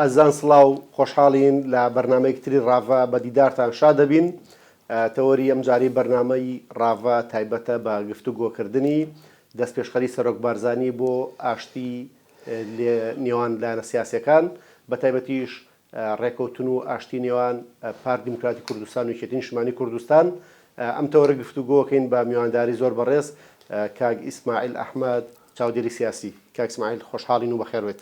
ئەزان سڵاو خۆشحاڵین لە بەرنامەیەکی تری ڕاڤە بە دیدارتان شادەبین تەوەری ئەمجارەی بەرنامەی ڕاڤە تایبەتە بە گفتوگۆ کردنی دەستپێشخەری سەرۆک بارزانی بۆ ئاشتی لە نێوان لایەنە سیاسیەکان بە تایبەتیش ڕێکەوتن و ئاشتی نێوان پارت دیموکراتی کوردستان و یەکێتی نیشتمانی کوردستان ئەم تەوەرە گفتوگۆکەین بە میوانداری زۆر بەڕێز کاک ئیسماعیل ئەحمەد چاودێری سیاسی کاک ئیسماعیل خۆشحاڵین و بەخێر بێت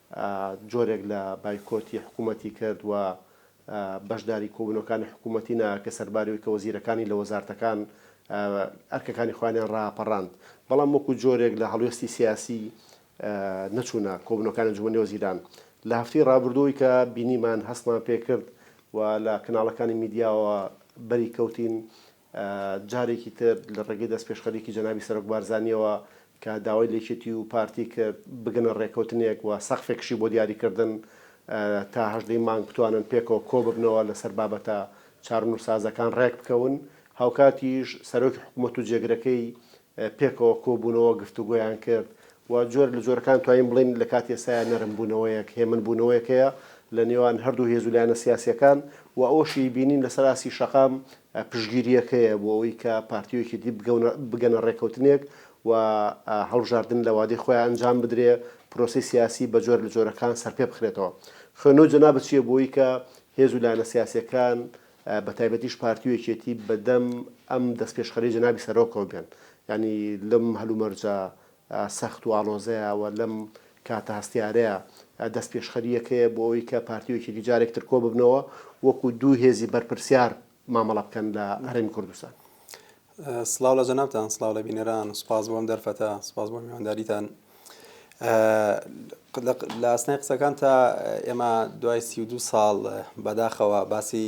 جۆرێک لە بایکۆتی حکوومەتی کرد و بەشداری کۆبوونەوەکانی حکوومەتی نەکرد، کە سەرباری ئەوەی کە وەزیرەکانی لە وەزارتەکان ئەرکەکانی خۆیانیان ڕاپەڕاند، بەڵام وەکوو جۆرێک لە هەڵوێستی سیاسی نەچوونە کۆبوونەوەکانی ئەنجوومەنی وەزیران. لە هەفتەی ڕابردووەوەی کە بینیمان، هەستمان پێ کرد و لە کەناڵەکانی میدیاوە بەری کەوتین، جارێکی تر لە ڕێگەی دەستپێشخەریی جەنابی سەرۆک بارزانییەوە کە داوای لە یەکێتی و پارتی کرد بگەنە ڕێککەوتنێک و سەقفێکشی بۆ دیاریکردن تا هەژدە ی مانگ بتوانن پێکەوە کۆ ببنەوە لەسەر بابەتە چارونوسسازەکان ڕێک بکەون. هاوکاتیش سەرۆکی حکوومەت و جێگرەکەی پێکەوە کۆ بوونەوە گفتوگۆیان کرد و جۆرێک لە جۆرەکان توانین بڵێین لە کاتی ئێستایا نەرم بوونەوەیەک، هێمن بوونەوەیەک هەیە لە نێوان هەردوو هێز و لایەنە سیاسییەکان و ئەوەشی بینین لەسەر ئاستی شەقام پشتگیرییەکەیە بۆ ئەوەی کە پارتی و یەکێتی بگەنە ڕێککەوتنێک و هەڵبژاردن لە وادەی خۆیان ئەنجام بدرێ، پرۆسەی سیاسی بە جۆرە لە جۆرەکان سەرپێ بخرێتەوە. خوێندنەوەی جەنابت چییە بۆ ئەوەی کە هێز و لایەنە سیاسییەکان بە تایبەتیش پارتی و یەکێتی بە دەم ئەم دەستپێشخەرییەی جەنابی سەرۆکەوە بێن؟ یانی لەم هەلومەرجە سەخت و ئاڵۆزەیە و لەم کاتە هەستیارەیە دەستپێشخەری یەک هەیە بۆ ئەوەی کە پارتی و یەکێتی جارێک تر کۆ ببنەوە و وەکوو دوو هێزی بەرپرسیار مامەڵە بکەن لە هەرێمی کوردستان. سڵاو لە جەنابتان، سڵاو لە بینەران، سوپاس بۆ ئەم دەرفەتە، سوپاس بۆ میوانداریتان. لە ئاسنای قسەکانتا ئێمە دوای سی و دوو ساڵ بەداخەوە باسی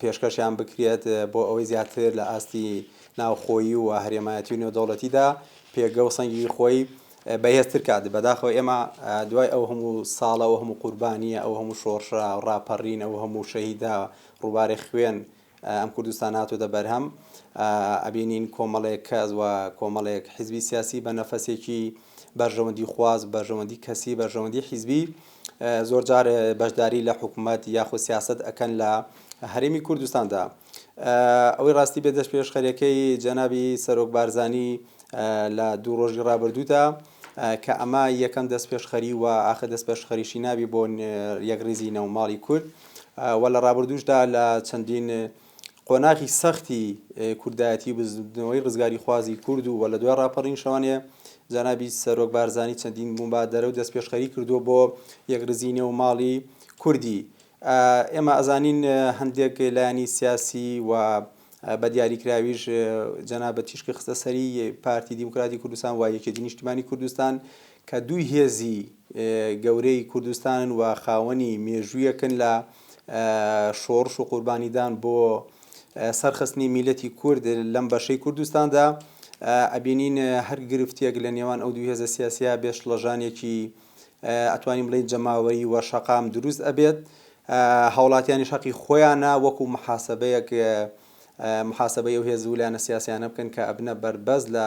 پێشکەشیان بکرێت بۆ ئەوەی زیاتر لە ئاستی ناوخۆیی و هەرێمایەتی و نێودەوڵەتیدا پێگە و سەنگی خۆی بەهێزتر کات بەداخەوە ئێمە دوای ئەو هەموو ساڵە ئەو هەموو قوربانیە ئەو هەموو شۆڕشە ڕاپەڕین ئەو هەموو شەهیدا ڕووبارەی خوێن ئەم کوردستان هاتووتە بەرهەم ئەبینین کۆمەڵێک کەس و کۆمەڵێک حیزبی سیاسی بە نەفەسێکی بەرژەوەندی خواز بەرژەوەندی کەسی بەرژەوەندی حیزبی زۆر جار بەشداری لە حکومەت یاخود سیاست ئەکەن لە هەرێمی کوردستاندا ئەوەی ڕاستی بێ دەست پێشخەرەکەی جەنابی سەرۆک بارزانی لە دوو ڕۆژی ڕابردوودا کە ئەمە یەکەم دەست پێشخەری و ئاخر دەست پێشخەریشی نابی بۆ یەکڕیزی نەوماڵی کورد و لە ڕابردوشدا لە چەندین قۆناغی سەختی کوردایەتی و بزووتنەوەی ڕزگاریخوازی کورد و لە دوای ڕاپەڕین شەوانێ جەنابی سەرۆک بارزانی چەندین موبادەرە و دەستپێشخەری کردووە بۆ یەکڕیزی نێو ماڵی کوردی ئێمە ئەزانین هەندێک لایەنی سیاسی و بە دیاریکراویش جەنابە تیشکی خستە سەری پارتی دیموکراتی کوردستان و یەکێتی نیشتیمانی کوردستان کە دوو هێزی گەورەی کوردستانن و خاوەنی مێژوویەکن لە شۆڕش و قوربانیدان بۆ سەرخستنی میلەتی کورد لەم بەشەی کوردستاندا ئەبینین هەر گرفتیەک لە نێوان ئەو دوو هێزە سیاسیە بێش لەژانێکی ئەتوانین بڵین جەماوەری وە شەقام دروست ئەبێت هاوڵاتیانی شەقی خۆیانە وەکو محاسبەیەک محاسبە و هێزوو لایەنە سیاسیانە بکەن کە ئەبنە بەربەز لە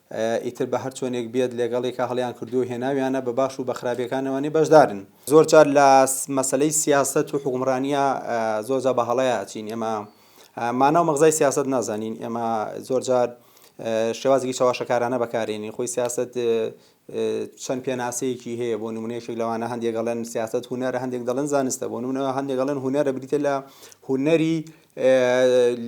ئیتر بە هەر چۆنێک بێت لێگەڵیکە هەڵیان کردووە و هێناویانە، بە باش و بە خراپیەکان ئەوانەی بەشدارن. زۆر جار لە مەسەلەی سیاسەت و حوکمڕانیە زۆر جار بە هەڵەیا ئەچین، ئێمە مانا و مەغزای سیاسەت نازانین، ئێمە زۆر جار شێوازێکی چەواشەکارانە بەکارێنین، خۆی سیاسەت چەند پێناسەیەکی هەیە، بۆ نموونە یەکێک لەوانە هەندێک ئەڵێن سیاسەت هونەرە، هەندێک دەڵێن زانستە، بۆ نموونە هەندێک ئەڵێن هونەرە بریتیە لە هونەری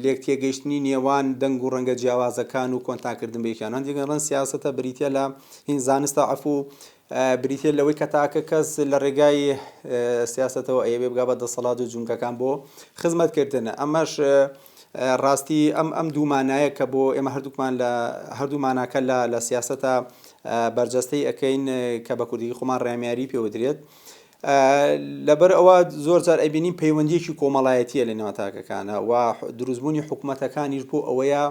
لێکتێگەیشتنی نێوان دەنگ و ڕەنگە جیاوازەکان و کۆنتانکردن بە یەکیان هەندێک ڕەنگ سیاسەتە بریتە لە هین زانستە عفو بریتە لەوەی کە تاکە کەس لە ڕێگای سیاستەوە ئەیەوێ بگا بە دەسەڵات و جونگەکان بۆ خزمەتکردن ئەمەش ڕاستی ئەم ئەم دوومانایە کە بۆ ئێمە هەردووکمان لە هەردوو ماناکە لە لە سیاستە بەرجەستەی ئەەکەین کە بە کوردی خۆمان ڕێمیاری پێوەدرێت لەبەر ئەوە زۆر جار ئەبینین پەیوەندیەکی کۆمەڵایەتیە لە نێوان تاکەکانە و دروستبوونی حکوومەتەکانیش بۆ ئەوەیە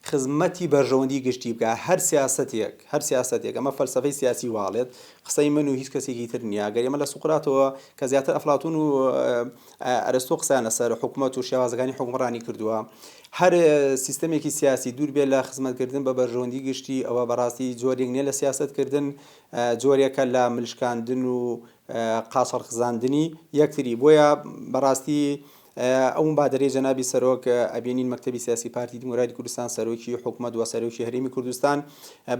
خزمەتی بەرژەوەندی گشتی بکە هەر سیاستێک هەر سیاستێک ئەمە فەلسفەی سیاسی واڵێت قسەی من و هیچ کەسێکی تر نییە گەر ئێمە لە سوقراتەوە کە زیاتر ئەفلاتون و ئەرستۆ قسەیان لەسەر حکوومەت و شێوازەکانی حکومڕانی کردووە هەر سیستمێکی سیاسی دوور بێ لە خزمەتکردن بە بەرژەوەندی گشتی ئەوە بەڕاستی جۆرێک نیە لە سیاستکردن جۆرێکە لە ملشکاندن و قاچاڵخزاندنی یەکتری بۆیە بەڕاستی ئەو مبادرەی جەنابی سەرۆک ئەبینین مەکتەبی سیاسی پارتی دیموکراتی کوردستان سەرۆکی حکومت و سەرۆکی هەرێمی کوردستان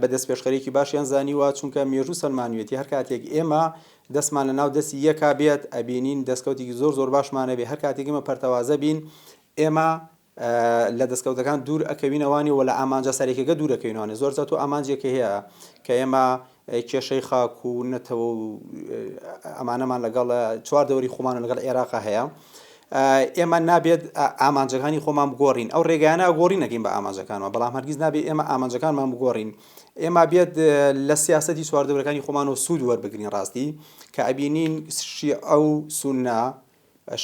بە دەست پێشخەرێکی باشیان زانیوە چونکە مێژوو سەلمانوێتی هەر کاتێک ئێمە دەستمان لە ناو دەستی یەکا بێت ئەبینین دەستکەوتێکی زۆر زۆر باشمانەبێ هەر کاتێک ئمە پەرتەوازە بین ئێمە لە دەستکەوتەکان دوور ئەکەوینەوانی و لە ئامانجە سەرەکیەکە دوور ئەکەوینەوانی زۆر جار تۆ ئامانجێکی هەیە کە ئێمە کێشەی خاک و نەتەوە و ئەمانەمان لەگەڵ چوار دەوری خۆمان و لەگەڵ عێراقا هەیە ئێمە نابێت ئامانجەکانی خۆمان بگۆڕین ئەو ڕێگەیانە گۆڕی نەکەین بە ئامانجەکانەوە بەڵام هەرگیز نابێت ئێمە ئامانجەکانمان بگۆڕین ئێمە بێت لە سیاستی چواردەورەکانی خۆمان و سوود وەربگرین ڕاستی کە ئەبینین شیعە و سوننا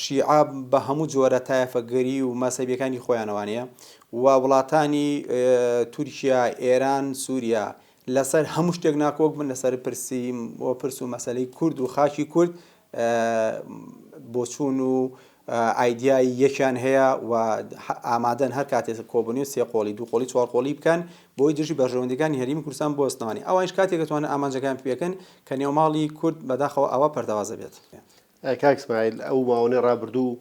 شیعە بە هەموو جۆرە تایەفەگەری و مەزهەبیەکانی خۆیانەوانەیە و وڵاتانی تورکیا، ئێران، سوریا لەسەر هەموو شتێک ناکۆک بن لەسەر پرسی و پرس و مەسەلەی کورد و خاکی کورد بۆچوون و ئایدیای یەکیان هەیە و ئامادەن هەر کاتێ کۆبنی و سێ قۆڵی دوو قۆڵی چوار قۆڵی بکەن بۆی دژی بەرژەوەندەکانی هەرمی کوردستان بۆ سنەوانی ئەوانش کاتێکەتوانن ئامانجەکان پێکەن کە نێوماڵی کورد بەداخەوە ئاوا پەردەوازە بێت. کاک سمایل ئەو ماوەنەی ڕابردوو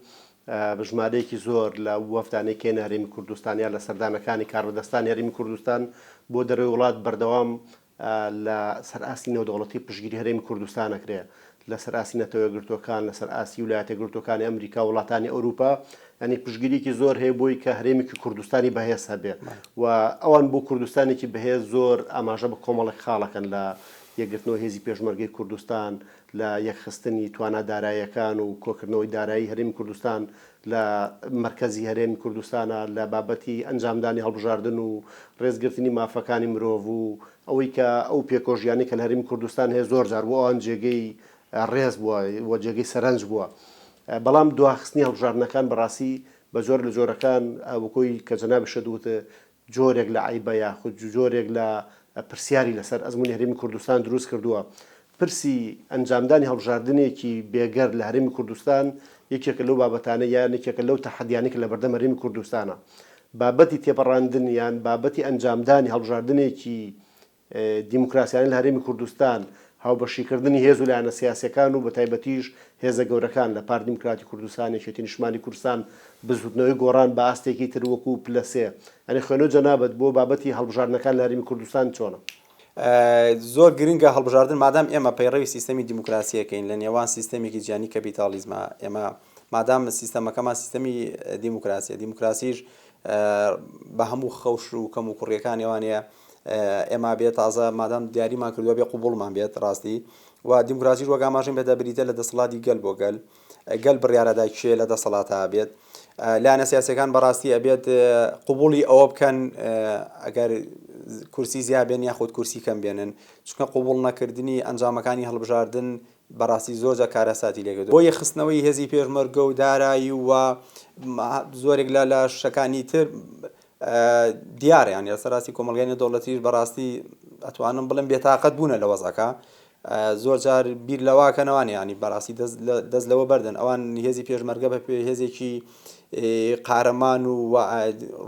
بە ژمارەیەکی زۆر لە وەفدانەی کێنە هەرێمی کوردستان یا لە سەردانەکانی کاربەدەستانی هەرێمی کوردستان بۆ دەرەوەی وڵات بەردەوام لە سەر ئاستی نێودەوڵەتی پشتگیری هەرێمی کوردستان ئەکرێ لە سەر ئاستی نەتەوە یەکگرتووەکان لە سەر ئاستی ولایەتە یەکگرتووەکانی ئەمریکا وڵاتانی ئەوروپا یعنی پشتگیریکی زۆر هەیە بۆی کە هەرێمێکی کوردستانی بەهێز هەبێ و ئەوان بۆ کوردستانێکی بەهێز زۆر ئاماژە بە کۆمەڵێک خاڵەکەن لە یەکگرتنەوە هێزی پێشمەرگەی کوردستان لە یەکخستنی توانا دارایەکان و کۆکردنەوەی دارایی هەرێمی کوردستان لە مەرکەزی هەرێمی کوردستانە لە بابەتی ئەنجامدانی هەڵبژاردن و ڕێزگرتنی مافەکانی مرۆڤ و ئەوەی کە ئەو پێکۆژیانەی کە لە هەرێمی کوردستان هەیە زۆر جار بۆ ئەوان جێگەی ڕێز بووە و جێگەی سەرەنج بووە بەڵام دواخستنی هەڵبژاردنەکان بەڕاستی بە جۆرە لە جۆرەکان وەک ئەوەی کە جەنابیشت وت جۆرێک لە عەیبە یاخود جۆرێک لە پرسیاری لەسەر ئەزموونی هەرێمی کوردستان دروست کردووە. پرسی ئەنجامدانی هەڵبژاردنێکی بێگەرد لە هەرێمی کوردستان یەکێکە لەو بابەتانەی یان یەکێکە لەو تەحەدیانەی کە لەبەردەم هەرێمی کوردستانە. بابەتی تێپەڕاندن یان بابەتی ئەنجامدانی هەڵبژاردنێکی دیموکراسیانەی لە هەرێمی کوردستان، هاوبەشیکردنی هێز و لایەنە سیاسییەکان و بەتایبەتیش هێزە گەورەکان لە پارتی دیموکراتی کوردستان، یەکێتی نیشتمانی کوردستان، بزووتنەوەی گۆڕان بە ئاستێکی تر وەکوو پلە سێ. یانی خوێنەوەی جەنابت بۆ بابەتی هەڵبژاردنەکان لە هەرێمی کوردستان چۆنە؟ زۆر گرنگە هەڵبژاردن، مادام ئێمە پەیڕەوی سیستەمی دیموکراسییەکەین لە نێوان سیستەمێکی جیهانی کەپیتاڵیزما، ئێمە مادام سیستەمەکەمان سیستەمی دیموکراسییە، دیموکراسیش بە هەموو خەوش و کەموکوڕییەکانی ئەوانەیە، ئێمە بێ تازە مادام دیاریمان کردوە بێ قوبوڵمان بێت ڕاستی و دیموکراسیش وەک ئاماژەم پێدا بریتە لە دەسەڵاتی گەل بۆ گەل گەل بڕیارەدا کێ لە دەسەڵاتە بێت لایەنە سیاسەکان بەڕاستی ئەبێت قوبولی ئەوە بکەن ئەگەر کورسی زیابێن یاخود کورسی کەم بێنن چونکە قوبول نەکردنی ئەنجامەکانی هەڵبژاردن بەڕاستی زۆرجە کارەساتی لێگە بۆ یەخستنەوەی هێزی پێشمەرگە و دارایی و زۆرێک لە لە شەکانی تر دیارە یانی لەسەر ئاستی کۆمەڵگای نێودەوڵەتیش بەڕاستی ئەتوانم بڵێم بێتاقەت بوونە لە وەزعەکە زۆر جار بیر لەواکەنەوان ینی بەڕاستی دەست لەوە بەردن ئەوان هێزی پێشمەرگە بە پێ هێزێکی قارەمان و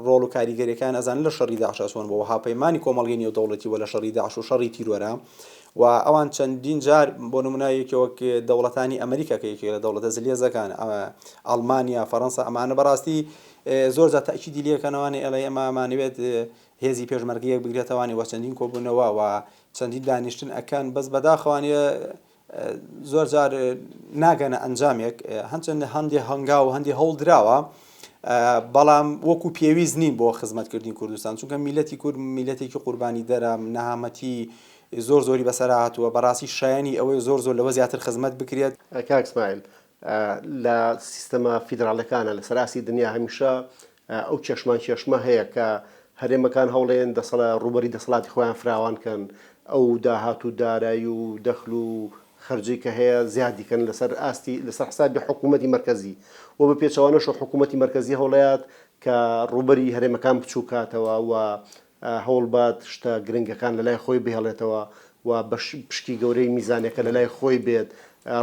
ڕۆڵ و کاریگەریەکان ئەزان لە شەڕی داعشەسۆن بۆ هاپەیمانانی کۆمەڵگەی نێودەوڵەتی و لە شەڕی داعش و شەڕی تیرۆرە و ئەوان چەندین جار بۆ نمونایەکی وەک دەوڵەتانی ئەمریکا کە یەکێک لە دەوڵەتە زلێزەکان ئەمە ئەڵمانیا فەڕەنسا ئەمانە بەڕاستی زۆر جار تەئکیدی لێ کەنە وانێ ئێڵێ ئێمە مانەوێت هێزی پێشمەرگە یەک بگرێتە وانێ وە چەندین کۆبونەوە وە چەندین دانیشتن ئەکەن بەس بەداخە وانێ زۆر جار ناگەنە ئەنجامێک هەنچەندە هەندێ هەنگا و هەندی هەوڵ دراوە بەڵام وەکو پێویست نین بۆ خزمەتکردنی کوردستان چونکە میلەتی کورد میلەتێکی قوربانی دەرە نەهامەتی زۆر زۆری بەسەر هاتووە بەڕاستی شایانی ئەوەی زۆر زۆر لەوە زیاتر خزمەت بکرێت. کاک سمایل لە سیستەمە فیدراڵیەکانە لەسەر ئاستی دنیا هەمیشە ئەو کێشمان کێشمە هەیە کە هەرێمەکان هەوڵێن دەسەڵە ڕوبەری دەسەڵاتی خۆیان فراوان کەن ئەو داهات و دارایی و دەخل و خەرجی کە هەیە زیادیکەن لەسەر ئاستی لەسەر حسابی حکوومەتی مەرکەزی و بە پێچەوانەشە حکوومەتی مەرکەزی هەوڵەیات کە ڕوبەری هەرێمەکان بچووکاتەوە و هەوڵبات شتە گرنگەکان لەلای خۆی بهێڵێتەوە و بەش پشکی گەورەی میزانەکە لەلای خۆی بێت،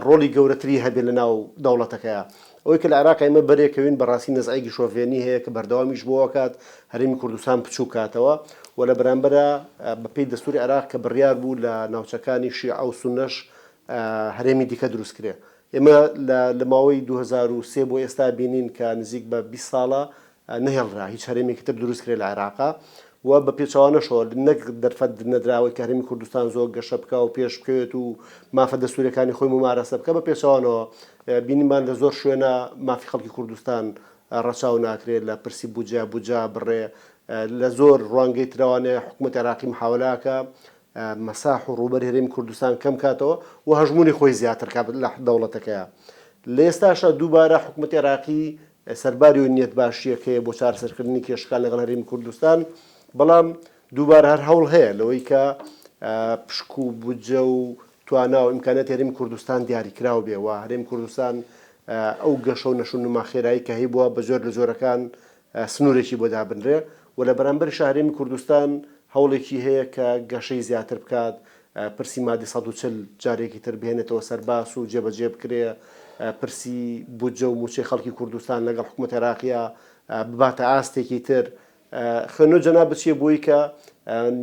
ڕۆڵی گەورەتری هەبێت لەناو دەوڵەتەکەیا. ئەوەی کە لە عێراق ئێمە بەرێکەوین بەڕاستی نەزعێکی شۆڤێنی هەیە کە بەردەوامیش بۆ ئەکات هەرێمی کوردستان بچووک کاتەوە و لە بەرامبەرا بە پێی دەستووری عێراق کە بڕیار بوو لە ناوچەکانی شیعە و سوننەش هەرێمی دیکە دروست کرێ. ئێمە لە لە ماوەی دوو هەزار و سێ بۆ ئێستا بینین کە نزیک بە بیست ساڵە نەهێڵرا هیچ هەرێمێکی تر دروست کرێ لە عێراق و بە پێچەوانەشەوە نەک دەرفەت نەدراوەی کە هەرێمی کوردستان زۆر گەشە بکا و پێش بکەوێت و مافە دەستوریەکانی خۆی ممارەسە بکە بە پێچەوانەوە بینیمان لە زۆر شوێنە مافی خەڵکی کوردستان ڕەچاو ناکرێت لە پرسی بودجە بودجە بڕێ لە زۆر ڕوانگەی تراوانێ حکوومەت عێراقی محاولاکە مەساح و ڕوبەر هەرێمی کوردستان کەم کاتەوە و هەژمونی خۆی زیاتر کات لە دەوڵەتەکەیە لە ئێستاشە دووبارە حکوومەت عێراقی سەرباری ئەو نیەت باشیە کە هەیە بۆ چارەسەرکردنی کێشەکان لەگەڵ هەرێمی کوردستان، بەڵام دووبارە هەر هەوڵ هەیە لەوەی کە پشک و بودجە و توانا و ئیمکانیاتی هەرێمی کوردستان دیاریکراو بێ و هەرێمی کوردستان ئەو گەشە و نەشونما خێرایی کە هەیبووە بە جۆر لە جۆرەکان سنوورێکی بۆ دابنرێ و لە بەرامبەریشا هەرێمی کوردستان هەوڵێکی هەیە کە گەشەی زیاتر بکات پرسی مادی سەد و چل جارێکی تر بهێنێتەوە سەر باس و جێبەجێ بکرێ، پرسی بودجە و مووچەی خەڵکی کوردستان لەگەڵ حکومەتی عێراقیا بباتە ئاستێکی تر، خوێندنەوەی جەناب بچیە بۆی کە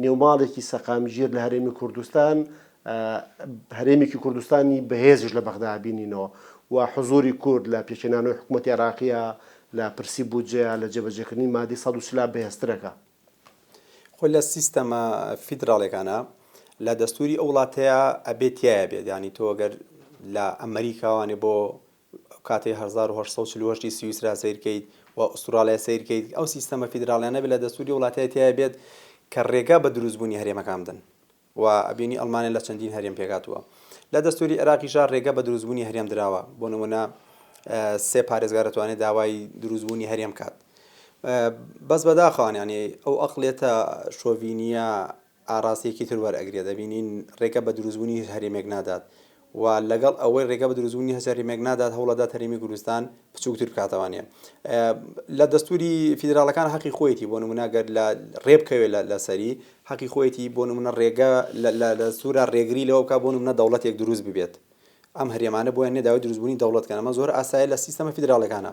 نێوماڵێکی سەقامگیر لە هەرێمی کوردستان، هەرێمێکی کوردستانی بەهێزیش لە بەغدا بینینەوە و حزووری کورد لە پێکهێنانەوەی حکومەتی عێراقیا لە پرسی بودجەیا لە جێبەجێکردنی مادی سەد و چلا بەهێزترەکە. خۆ لە سیستەمە فیدراڵێکانا لە دەستوری ئەو وڵاتەیە ئەبێ تایە بێت ینی تۆ گەر لە ئەمریکاوانێ بۆ کاتی 1940 سویسرا سیرکەیت و ئوسترالیا سیرکەیت ئەو سیستەمە فیدراڵیانە بێت لە دەستوری وڵاتەیە تایە بێت کە ڕێگا بە دروستبوونی هەرێمەکان بدەن و ئەبینی ئەڵمانیا لە چەندین هەرێم پێکهاتووە. لە دەستووری عێراقیشدا رێگە بە دروستبوونی هەرێم دراوە، بۆ نموونە سێ پارێزگا دەتوانێت داوای دروستبوونی هەرێم بکات. بەس بەداخەوانە یانی ئەو ئەقڵیەتە شۆڤینییە ئاراستەیەکی تر وەرئەگرێت، ئەبینین رێگە بە دروستبوونی هیچ هەرێمێک نادات و لەگەڵ ئەوەی رێگە بە دروستبوونی هەسارەی مێگ نادات، هەوڵئەدات هەرێمی کوردستان بچووکتر بکاتەوانێ. لە دەستووری فیدراڵەکان هەقی خۆیەتی بۆ نموونە گەر لە رێبکەوێ لە لە سەری، هەقی خۆیەتی بۆ نموونە رێگە لە لە دەستوورا رێگری لەوە بکات بۆ نموونە دەوڵەتێک دروست ببێت. ئەم هەرێمانە بۆیان نییە داوای دروستبوونی دەوڵەت بکەن، ئەمە زۆر ئاسایە لە سیستەمە فیدراڵەکانە.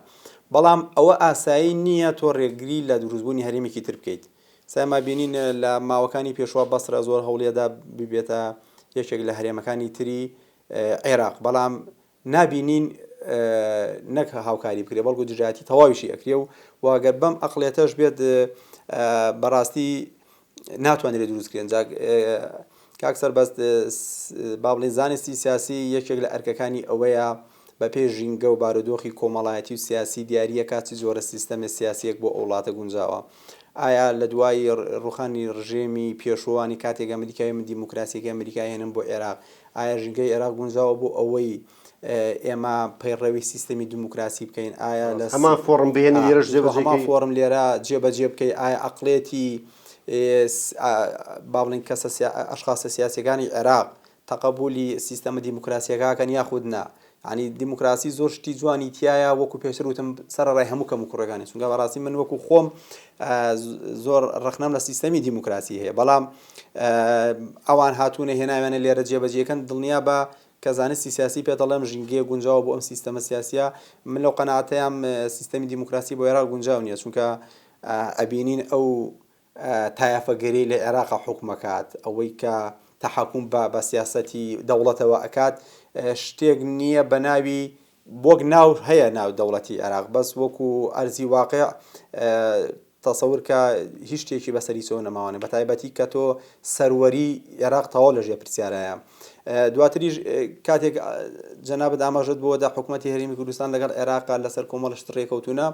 بەڵام ئەوە ئاسایی نییە تۆ رێگری لە دروستبوونی هەرێمێکی تر بکەیت. سەما بینین لە ماوەکانی پێشوە بەسرە زۆر هەوڵیەدا ببێتە یەکێک لە هەرێمەکانی تری عێراق بەڵام نابینین نەک هاوکاری بکرێ بەڵکو دژایەتی تەواویشی ئەکرێ و واگەر بەم ئەقلێتەش بێت بەڕاستی ناتوانرێت دروستکرێن جاک کاک سەربەست بابلین زانستی سیاسی یەکێک لە ئەرکەکانی ئەوەیە بەپێی ژینگە و بارودۆخی کۆمەڵایەتی و سیاسی دیارییە کا چ جۆرە سیستەمێ سیاسییەک بۆ ئەو وڵاتە گونجاوە. ئایا لە دوای ڕووخانی ڕژێمی پێشووانی کاتێک ئەمریکای من دیموکراسییەکەی ئەمریکای هێنن بۆ ئێراق ئایا ژینگەی ئێراق گونجاوە بۆ ئەوەی ئێمە پەیڕەوی سیستەمی دیموکراسی بکەین ئایا لە هەمان فۆڕم بهێنی لێرەش جێبەجێ کەی؟ هەمان فۆڕم لێرە جێبەجێ بکەی ئایا ئەقڵێتی با بڵێین کەسە ئەشخاسە سیاسییەکانی ئێراق تەقەبولی سیستەمە دیموکراسیەکاکەن یاخود نا یانی دیموکراسی زۆر شتی جوانی تایە وەکو پێشتر وتم سەرڕای هەموو کەم و کوڕەکانی چونگە بەڕاستی من وەکو خۆم زۆر ڕخنەم لە سیستەمی دیموکراسی هەیە بەڵام ئەوان هاتوونە هێناوێنە لێرە جێبەجێکەن دڵنیا بە کە زانستی سیاسی پێ دەڵێم ژینگەیە گونجاوە بۆ ئەم سیستەمە سیاسە من لەو قەناتەیەم سیستەمی دیموکراسی بۆ عێرا گونجاو نیە چونکە ئەبینین ئەو تایەفەگەری لە عێراقا حوکم ئەکات، ئەوەی کە تەحەکوم بە بە سیاسەتی دەوڵەتەوە ئەکات شتێک نییە بە ناوی وەک ناو هەیە ناو دەوڵەتی عێراق بەس وەکو ئەرزی واقع تەسەور کە هیچ شتێکی بەسەری سۆ نەماوانێ بە تایبەتی کە تۆ سەروەری عێراق تەواو لە ژێ پرسیارایە دواتریش کاتێک جەنابەت ئاماژەت بۆ دە حکوومەتتی هەرمی کوردستان لەگەڵ عێراق لەسەر کۆمەڵشت ڕێکەوتونە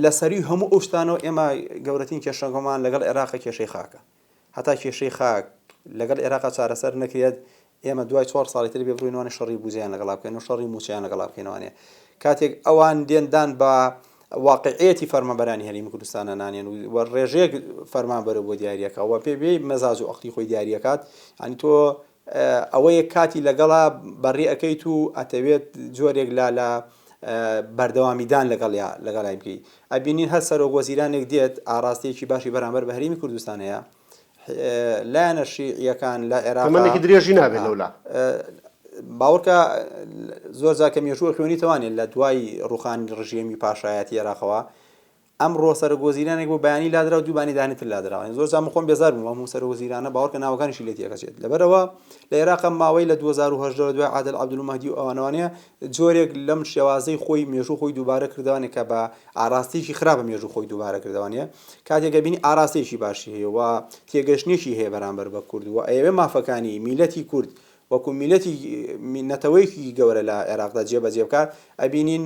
لە سەروی هەموو ئەو شتانەوە ئێمە گەورەترین کێشەکەمان لەگەڵ عێراقە کێشەی خاکە. هەتا کێشەی خاک لەگەڵ عێراقا چارەسەر نەکرێت ئێمە دوای چوار ساڵی تر بێ بڕوین وانە شەڕی بوجەیان لەگەڵا بکەین و شەڕی موچەیان لەگەڵا بکەین وانێ کاتێک ئەوان دێن دان بە واقعیەتی فەرمانبەرانی هەرێمی کوردستانە نانێن و ڕێژەیەک فەرمانبەرە بۆ دیارەکە و پێ بێ مەزاج و ئەقلی خۆی دیارەکات ینی تۆ ئەوەیە کاتی لەگەڵا بەڕێ ئەکەیت و ئەتەوێت جۆرێک لە لە بەردەوامیدان لەگەڵیا لەگەڵای بکەی ئەبینین هەر سەرۆک وەزیرانێک دێت ئاڕاستەیەکی باشی بەرامبەر بە هەرێمی کوردستان هەیە لایەنە شیعیەکان لە عێراق تەمەنێکی درێژی نابێت لەولا باوەڕکە زۆر جاکە مێژووە خوێنیتەوانێت لە دوای ڕوخانی ڕژێمی پاشایەتی عێراقەوە ئەمڕۆ سەرۆک وەزیرانێک بۆ بەیانی لادراو دوو بانی دانی تر لادراوە یانی زۆر جار من خۆم بێزار بووم ئەم سەرۆک وەزیرانە باوەڕکە ناوەکانیشی لێ تێکەچێت لەبەر ئەوە لە ئێراق ئەم ماوەی لە دوو هەزار و هەژدە لە دوای عادل عەبدول مەهدی و ئەوانەوانەیە جۆرێک لەم شێوازەی خۆی مێژوو خۆی دووبارە کردوانێ کە بە ئاراستەیەکی خراپە مێژوو خۆی دووبارە کردوانێ کاتێک ئەبینی ئاراستەیەکی باشی هەیە و تێگەشتنێکی هەیە بەرامبەر بە کورد و ئەیەوێ مافەکانی میلەتی کورد وەکو میلەتی نەتەوەیەکی گەورە لە عێراقدا جێبەجێ بکات ئەبینین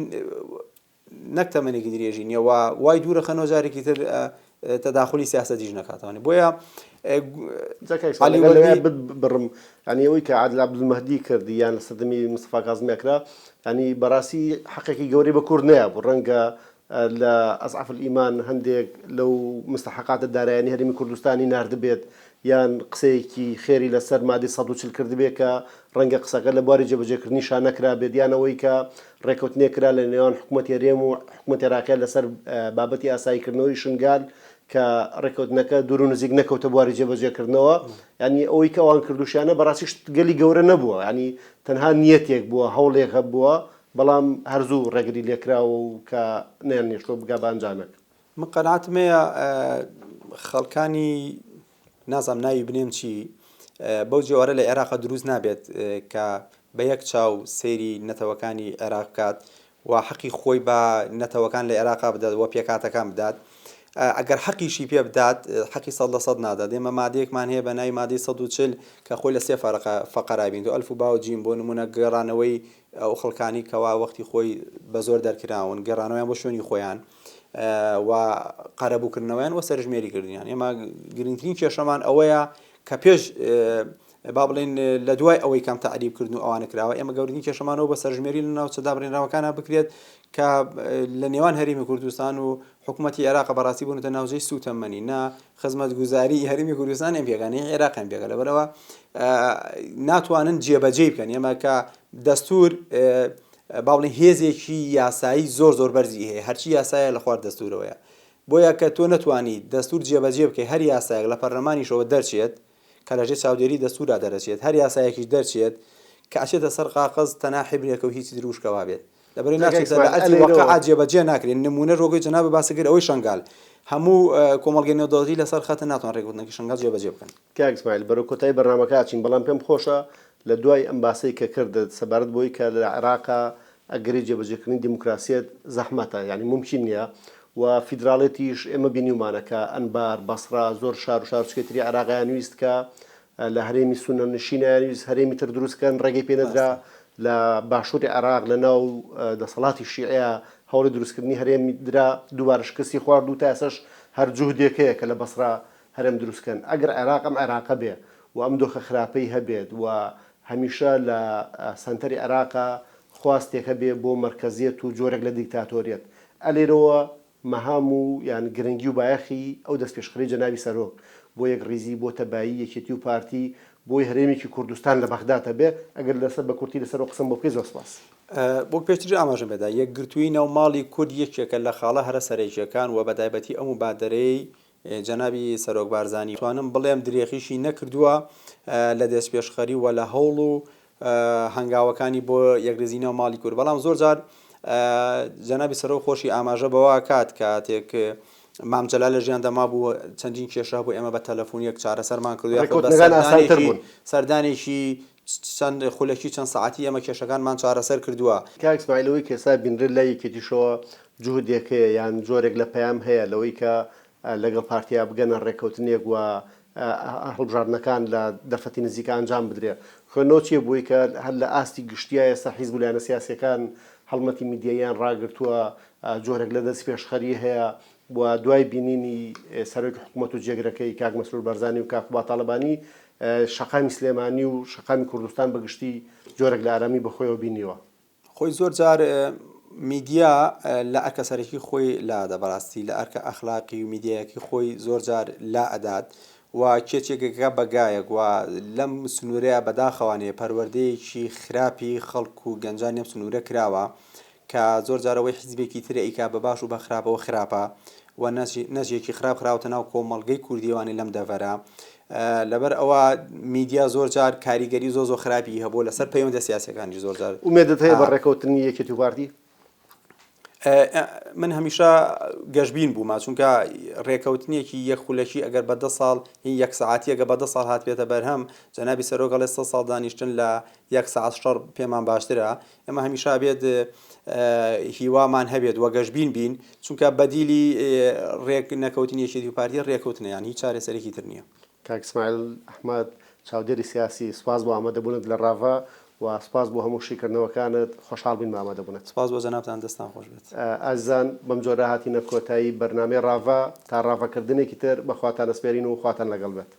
نەک تەمەنێکی درێژی نیە و وای دوورە خەنەوە جارێکی تر تەداخلی سیاسەتیش نەکاتوانێت بۆیە بڕم ئەنیەوەی کە عادلا عبدالمەهدی کرد یان لە سەردەمی مستەفا کازمی ئەکرا ینی بەڕاستی حەقێکی گەورەی بە کورد نەیە بوو ڕەنگە لە ئەزعەف ئیمان هەندێک لەو مستحقاتە دارایانی هەرمی کوردستانی نردبێت یان قسەیەکی خێری لەسەر مادەی سەد و چل کردبێت کە ڕەنگە قسەکە لە بواری جێبەجێکردنی شا نەکرابێت، یان ئەوەی کە ڕێککەوتنێک کرا لە نێوان حکومەتی هەرێم و حکومەتی عێراقیان لەسەر بابەتی ئاساییکردنەوەی شنگال کە ڕێککەوتنەکە دوور و نزیک نەکەوتە بواری جێبەجێکردنەوە، یانی ئەوەی کە ئەوان کردووشیانە بەڕاستی شتگەلی گەورە نەبووە، یانی تەنها نیەتێک بووە، هەوڵێک هەبووە، بەڵام هەر زوو ڕێگری لێکراوە و کە نەیانهێشتووە بگا بە ئەنجامێک. من قەناعەتم هەیە خەڵکانی نازانم ناوی بنێم چی بەو جۆرە لە عێراقا دروست نابێت کە بە یەک چاو سەیری نەتەوەکانی عێراق بکات و حەقی خۆی بە نەتەوەکان لە عێراقا بدات و پێکاتەکان بدات ئەگەر حەقیشی پێ بدات حەقی سەد لە سەد نادات ئێمە مادەیەکمان هەیە بە ناوی مادەی 140 کە خۆی لە سێ فەرقە فەقەرابین و ئەلف و باو جیم بۆ نمونە گەڕانەوەی ئەو خەڵکانی کەوا وەختی خۆی بە زۆر دەرکراون گەڕانەوەیان بۆ شوێنی خۆیان و قەرەبووکردنەوەیان وە سەرژمێری کردنیان ئێمە گرنگترین کێشەمان ئەوەیە کە پێش با بڵێن لە دوای ئەوەی کەم تعریب کردن و ئەوانە کراوە ئێمە گەورنی کێشەمانەوە بە سەرژمێری لە ناوچە دابرێنراوەکانە بکرێت کە لە نێوان هەرمی کوردستان و حکوومەتتی عێراق بەڕاستی بوونەتە ناوجەی سوتەمەنی نا خزمەت گوزاری هەرمی کوردستان ئەم پێگانەی عێراقیان پێگە لەبەرەوە ناتوانن جێبەجێ بکەن ئێمە کە دەستور با بڵێین هێزێکی یاسایی زۆر زۆر بەرزی هەیە هەرچی یاسایە لە خوار دەستورەوەیە بۆیە کە تۆ نەتوانی دەستور جێبەجێ بکەی هەر یاسایەک لە پەرلەمانیشەوە دەرچێت کە لە ژێر چاودێری دەستورا دەرەچێت هەر یاسایەکیش دەرچێت کە ئەچێتە سەر قاقەز تەنها حیبرێکە و هیچی دروشکە وابێت لەبەرەی ناچێتە لە ئەرکی واقعا جێبەجێ ناکرێت نمونەش وەکوی جەنابت باسی کرد ئەوەی شەنگال هەموو کۆمەڵگەی نێودەوڵەتی لەسەر خەتن ناتوان رێکوتنەکەی شەنگال جێبەجێ بکەن. کاک ئیسماعیل بەرەو کۆتایی بەرنامەکە ئەچین بەڵام پێم خۆشە لە دوای ئەم باسەی کە کردت سەبارەت بەوەی کە لە عێراقا ئەگەری جێبەجێکردنی دیموکراسیەت زەحمەتە یانی مومکین نیە و فیدراڵێتیش ئێمە بینیومانە کە ئەنبار، بەسڕا، زۆر شار و شارۆچکەی تری عێراق ئەیانویست کە لە هەرێمی سوننە نشین ئەیانویست هەرێمی تر دروست کەن ڕێگەی پێ نەدرا ڕاستە. لە باشوری عێراق لە ناو دەسەڵاتی شیعەیا هەوڵی دروستکردنی هەرێم درا دووبارە شکستی خوارد و تا ئێستاش هەر جوهدێک هەیە کە لە بەسڕا هەرێم دروست کەن ئەگەر عێراق ئەم عێراقە بێ و ئەم دۆخە خراپەی هەبێت و هەمیشە لە سەنتەری عێراقە خواستێک هەبێ بۆ مەرکەزیەت و جۆرێک لە دیکتاتۆریەت ئە لێرەوە مەهام و یان گرنگی و بایەخی ئەو دەستپێشخەرەی جەنابی سەرۆک بۆ یەک ڕیزی بۆ تەبایی یەکێتی و پارتی بۆی هەرێمێکی کوردستان لە بەغداد هەبێ ئەگەر لەسەر بە کورتی لەسەر ئەو قسەم بۆ بکەی زۆر سپاس. وەک پێشتریش ئاماژەم پێدا یەکگرتووی ناو ماڵی کورد یەکێکە لە خاڵە هەرە سەرەکیەکان و بەتایبەتی ئەو مبادەرەیەی جەنابی سەرۆک بارزانی توانم بڵێم درێخیشی نەکردووە لە دەستپێشخەری و لە هەوڵ و هەنگاوەکانی بۆ یەکرزینەوە ماڵی کورد بەڵام زۆر جار جەنابی سەرۆک خۆشی ئاماژە بەوە کات کاتێک مامجللا لە ژیان دەما بوو چەندین کێشە بۆ ئێمە بە تەلەفۆن یەک چارەسەرمان کردو سەردانێکی چەند خولەکی چەند سەعاتی ئێمە کێشەکانمان چارەسەر کردووە. کاک سمایل ئەوەی کە ئێستا بینرێت لای یەکێتیشەوە جوهدێک هەیە یان جۆرێک لە پەیام هەیە لەوەی کە لەگەڵ پارتیا بگەنە ڕێککەوتنێک و هەڵبژاردنەکان لە دەرفەتی نزیکا ئەنجام بدرێت خوێندنەوە چیە بۆی کە هەر لە ئاستی گشتیا ئێستا حیزب و لایەنە سیاسیەکان هەڵمەتی میدیاییان ڕاگرتووە جۆرێک لە دەستپێشخەری هەیە و دوای بینینی سەرۆکی حکومەت و جێگرەکەی کاک مەسرور بارزانی و کاک قوباد تاڵەبانی شەقامی سلێمانی و شەقامی کوردستان بە گشتی جۆرێک لە ئارامی بە خۆیەوە بینیوە. خۆی زۆر جار میدیا لە ئەرکە سەرەکی خۆی لا ئەدا بەڕاستی لە ئەرکە ئەخلاقی و میدیایەکی خۆی زۆر جار لا ئەدات و کێچێک ئەکا بە گایەک و لەم سنوورەیا بەداخەوانێ پەروەردەیەکی خراپی خەڵک و گەنجانی ئەم سنوورە کراوە کە زۆر جار ئەوەی حیزبێکی تر ئەیکا بە باش و بە خراپەوە خراپە و نەج نەجێکی خراپ خراوەتە ناو کۆمەڵگەی کوردی وانەی لەم دەڤەرە لەبەر ئەوە میدیا زۆر جار کاریگەری زۆ زۆ خراپی هەبوو لەسەر پەیوەندە سیاسەکانی زۆر جار ئومێدت هەیە بە ڕێکەوتنی یەکێتی و پارتی من هەمیشە گەشببین بوومە چونکە ڕێکەوتنیەکی یەک خولەکی ئەگەر بە دە ساڵ هی یەک ساعتیەگە بە دە ساڵ هاتبێتە بەرهەم جەنابی سەرۆگەڵێ سە ساڵ دانیشتن لە یەک ساعت شەڕ پێمان باشترە ئێمە هەمیشە ئەبێت هیوامان هەبێت و گەشبین بین، چونکە بەدیلی رێک نەکەوتنی یەکێتی و پارتی رێکەوتنە، یان هیچ چارەسەرێکی تر نییە. کاک سمایل ئەحمەد، چاودێری سیاسی، سپاس بۆ ئامادەبوونت لە راڤە و سپاس بۆ هەموو شیکردنەوەکانت، خۆشحاڵ بووین بە ئامادەبوونت. سپاس بۆ جەنابتان، دەستتان خۆش بێت. ئازیزان، بەم جۆرە هاتینە کۆتایی بەرنامەی راڤە، تا راڤەکردنێکی تر، بەخواتان ئەسپێرین و خواتان لەگەڵ بێت.